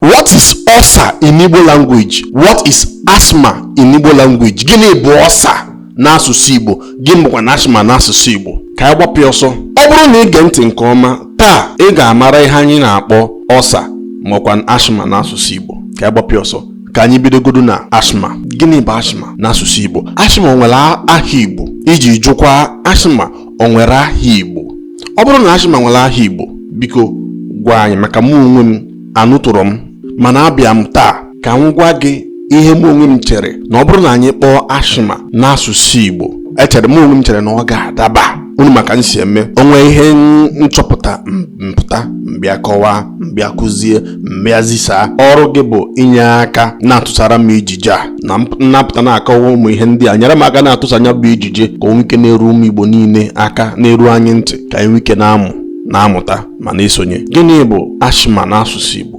What is ulcer in Igbo language? What is asthma in Igbo language? Gịnị bụ ulcer n'asụsụ Igbo? Gịnị bụkwanụ asthma n'asụsụ Igbo? Ka anyị gbapụ ọsọ. Ọ bụrụ na ị gee ntị nke ọma, taa ị ga-amara ihe anyị na-akpọ ulcer makwa asthma n'asụsụ Igbo. Ka anyị gbapụ ọsọ. Ka anyị bidogodu na asthma. Gịnị bụ asthma n'asụsụ Igbo? Asthma nwere aha Igbo iji jụkwa asthma o nwere aha Igbo. Ọ bụrụ na asthma nwere aha Igbo, biko gwa anyị maka mụ onwe m anụtụrọ m mana abịa m taa ka m gwa gị ihe mụ onwe m chere na ọ bụrụ na anyị kpọọ asthma n'asụsụ Igbo echere mụ onwe m chere na ọ ga-adaba unu ma ka m si eme o nwee ihe m chọpụta m pụta m bịa kọwaa m bịa kụzie m bịa zisaa ọrụ gị bụ inye aka na-atụsara m ijije a na m na-apụta na-akọwa ụmụ ihe ndị a nyere m aka na-atụsa nya bụ ijije ka o nwee ike na-eru ụmụ Igbo niile aka na-eru anyị ntị ka anyị nwee ike na-amụ na-amụta ma na-esonye gịnị bụ asthma n'asụsụ Igbo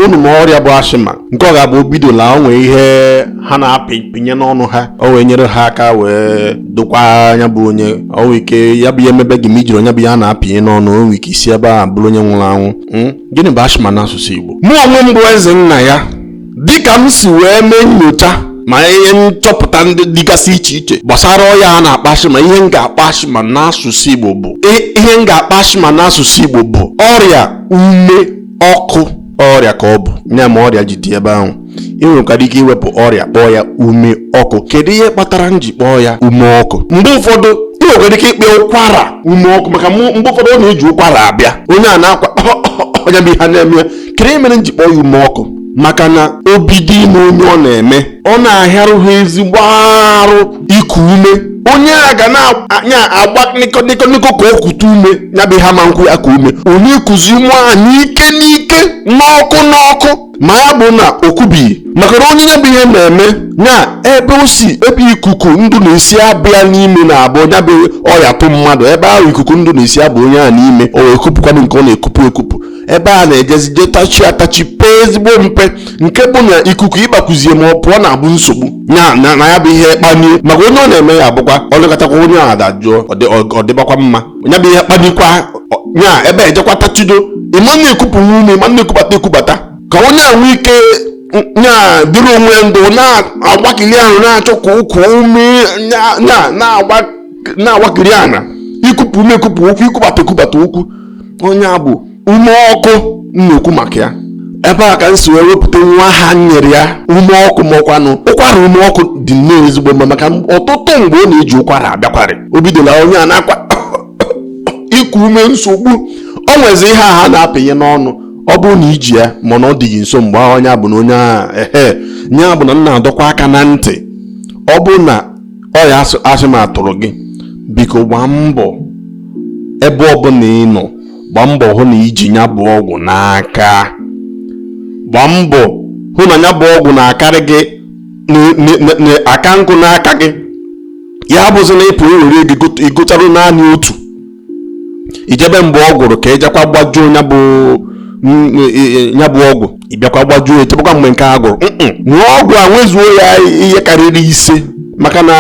unu ma ọrịa bụ asthma nke ọ ga-abụ o bidola o nwee ihe ha na-apịnye n'ọnụ ha o wee nyere ha aka wee dokwa nya bụ onye o nwee ike ya bụ ihe emebe gị ma i jirọ nya bụ ihe a na-apịnye n'ọnụ o nwee ike isi ebe a bụrụ onye nwụrụ anwụ hmm? gịnị bụ asthma n'asụsụ Igbo mụ onwe m bụ eze nna ya dịka m si wee mee nyocha ma ihe nchọpụta ndị dịgasị iche iche gbasara ọya a na-akpọ asthma ihe m ga-akpọ asthma n'asụsụ Igbo bụ i- ihe m ga-akpọ asthma n'asụsụ Igbo bụ ọrịa ume ọkụ ọrịa ka ọ bụ ya mere ọrịa ji dị ebe ahụ ị nwekwara ike iwepụ ọrịa kpọọ ya ume ọkụ kedu ihe kpatara m ji kpọọ ya ume ọkụ mgbe ụfọdụ ị nwekwara ike ịkpọ ya ụkwara ume ọkụ maka mụ- mgbe ụfọdụ ọ na-eji ụkwara abịa onye a na-akwa nya bụ ihe a na-eme ya kedu ihe mere m ji kpọọ ya ume ọkụ maka na o bido ime onye ọ na-eme ọ na-ahịarụ ha ezigbo arụ iku ume onye a ga na-agba nịkọnịkọnịkọ ka o kute ume ya bụ ha ma nkwụ ya ka ume onye ekuzi ume a n'ike n'ike n'ọkụ n'ọkụ ma ya bụ na o kubighị maka na onye ya bụ ihe na-eme ya ebe o si ebe ikuku ndụ na-esi abịa n'ime na-abụ ya bụ ọya tụ mmadụ ebe ahụ ikuku ndụ na-esi aba onye a n'ime o wee kupụkwanụ nke ọ na-ekupụ ekupụ ebe a na-ejezi je tachi atachi pee ezigbo mpe nke bụ na ikuku ịbakwuzie ma ọ pụọ na-abụ nsogbu ya na na ya bụ ihe kpanie maka onye ọ na-eme ya abụkwa ọ nọkatakwa onye ahụ adajụọ ọ dị- ọ- ọ dịbakwa mma ya bụ ihe kpanikwa ọ- ya ebe ejekwa tachido ị ma na-ekupụ ume ị ma na-ekubata ekubata ka onye a nwee ike ya dịrị onwe ya ndụ na-agbakili ahụ na-achọ ka o kuo ume ya- ya- na-agba na-awakiri ana ikupụ ume ekupụ okwu ikubata ekubata okwu ọ nya bụ ume ọkụ m na-ekwu maka ya ebe a ka m si wee wepụta nwa aha nyere ya ume ọkụ ma ọkwanụ ụkwara ume ọkụ dị nnọọ ezigbo mma maka ọtụtụ mgbe ọ na-eji ụkwara abịakwarị o bidola onye a nakwa iku ume nsogbu o nwezi ihe a ha na-apịnye n'ọnụ ọ bụrụ na i ji ya mana ọ dịghị nso mgbe onye bụ na onye ahụ ehe nya bụ na m na-adọkwa aka na ntị ọ bụrụ na ọya asthma tụrụ gị biko gbaa mbọ ebe ọbụla ị nọ gbaa mbọ hụ na i ji ya bụ ọgwụ n'aka gbaa mbọ hụ na ya bụ ọgwụ na-akarị gị aka nkụ n'aka gị ya bụzi na ị pụ i were ego ị gotara naanị otu i chebe mgbe ọ gwụrụ ka ị jekwa gbajuo ya bụ ya bụ ọgwụ ị bịakwa gbajuo echebekwa mgbe nke a gwụrụ nwee ọgwụ a nwezuo ya ihe karịrị ise maka na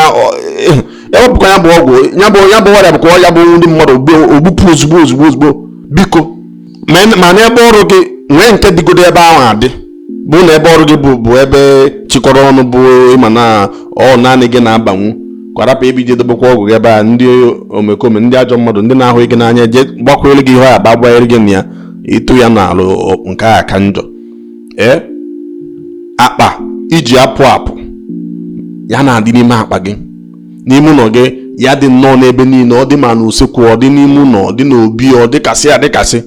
e wepụkwa ya bụ ọgwụ ya bụ ya bụ ọrịa bụkwa ya bụ ndị mmadụ o gbupụ ozugbo ozugbo ozugbo biko ma n'ebe ọrụ gị nwee nke dịgodu ebe ahụ adị bụ na ebe ọrụ gị bụ bụ ebe chịkọrọ ọnụ bụ ị ma na ọ naanị gị na-abanwu kwarapụ ebe i je dobekwa ọgwụ gị ebe a ndị omekome ndị ajọ mmadụ ndị na-ahụghị gị n'anya je gbakwere gị ihe a ba gbanyere gị na ya ị tụ ya n'ọnụ nke a ka njọ ee akpa i ji apụ apụ ya na-adị n'ime akpa gị n'ime ụlọ gị ya dị nnọọ n'ebe niile ọ dị ma n'usekwu ọ dị n'ime ụlọ ọ dị n'obi ọ dịkasị adịkasị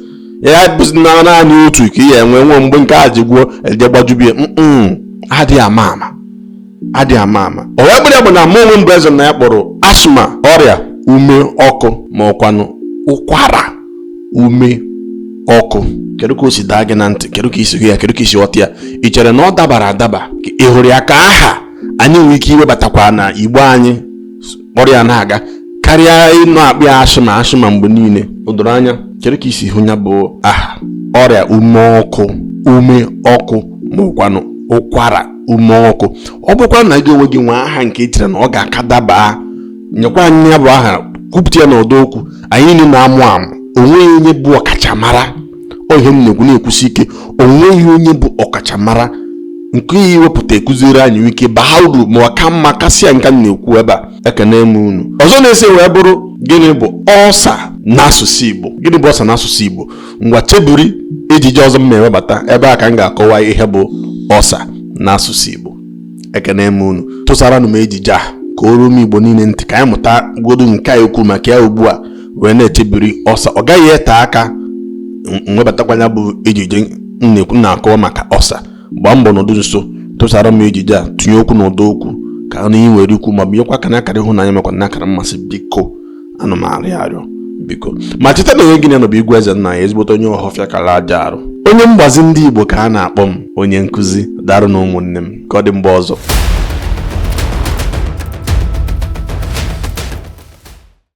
ya bụzi na naanị otu ka ị ya-enwe nwe mgbe nke a ji gwụọ e je gbajubie mm adịghị ama ama adịghị ama ama o wee bụrụ ya bụ na mụ onwe m bụ eze na ya kpọrọ asthma ọrịa ume ọkụ ma ọkwanụ ụkwara ume ọkụ kedu ka o si daa gị na ntị kedu ka i si hụ ya kedu ka i si ghọta ya ị chere na ọ dabara adaba ka ị hụrụ ya ka aha anyị nwere ike iwebatakwa na Igbo anyị kpọrọ ya na-aga karịa ịnọ akpọ ya asthma asthma mgbe niile o doro anya chere ka i si hụ ya bụ aha ọrịa ume ọkụ ume ọkụ ma ọkwanụ ụkwara ume ọkụ ọ bụkwa na gị onwe gị nwee aha nke i chere na ọ ga-aka daba nyekwa anyị ya bụ aha kwupụta ya n'ọdọ okwu anyị niile na-amụ amụ o nweghị onye bụ ọkachamara ọ ihe m na-ekwu na-ekwusi ike o nweghị onye bụ ọkachamara nke ị ya-ewepụta ekụziri anyị nwee ike baa uru ma ọ ka mma kasịa nke m na-ekwu ebe a ekene m unu ọzọ na-eso wee bụrụ gịnị bụ ulcer n'asụsụ Igbo gịnị bụ ulcer n'asụsụ Igbo ngwa chebiri ejije ọzọ m na-ewebata ebe a ka m ga-akọwa ihe bụ ulcer n'asụsụ Igbo ekene m unu tụsaranụ m ejije a ka o ruo ụmụ Igbo niile ntị ka anyị mụta godu nke a ekwu maka ya ugbu a wee na-echebiri ọsa ọ gaghị ete aka m webatakwa ya bụ ejije na-akọwa maka ọsa gbaa mbọ nọdụ nso tụsara m ejije a tinye okwu n'ụdọ okwu ka a nụ ihe i nwere ikwu ma binyekwa aka n'akara ịhụnanya makwa n'akara mmasị biko ana m arịọ arịọ biko ma cheta na onye gị na ya nọ bụ igwe eze nna ya ezigbote onye ọhọfịa kara aja arụ onye mgbazi ndị igbo ka a na-akpọ m onye nkụzi darụ nụ ụmụnne m ka ọ dị mgbe ọzọ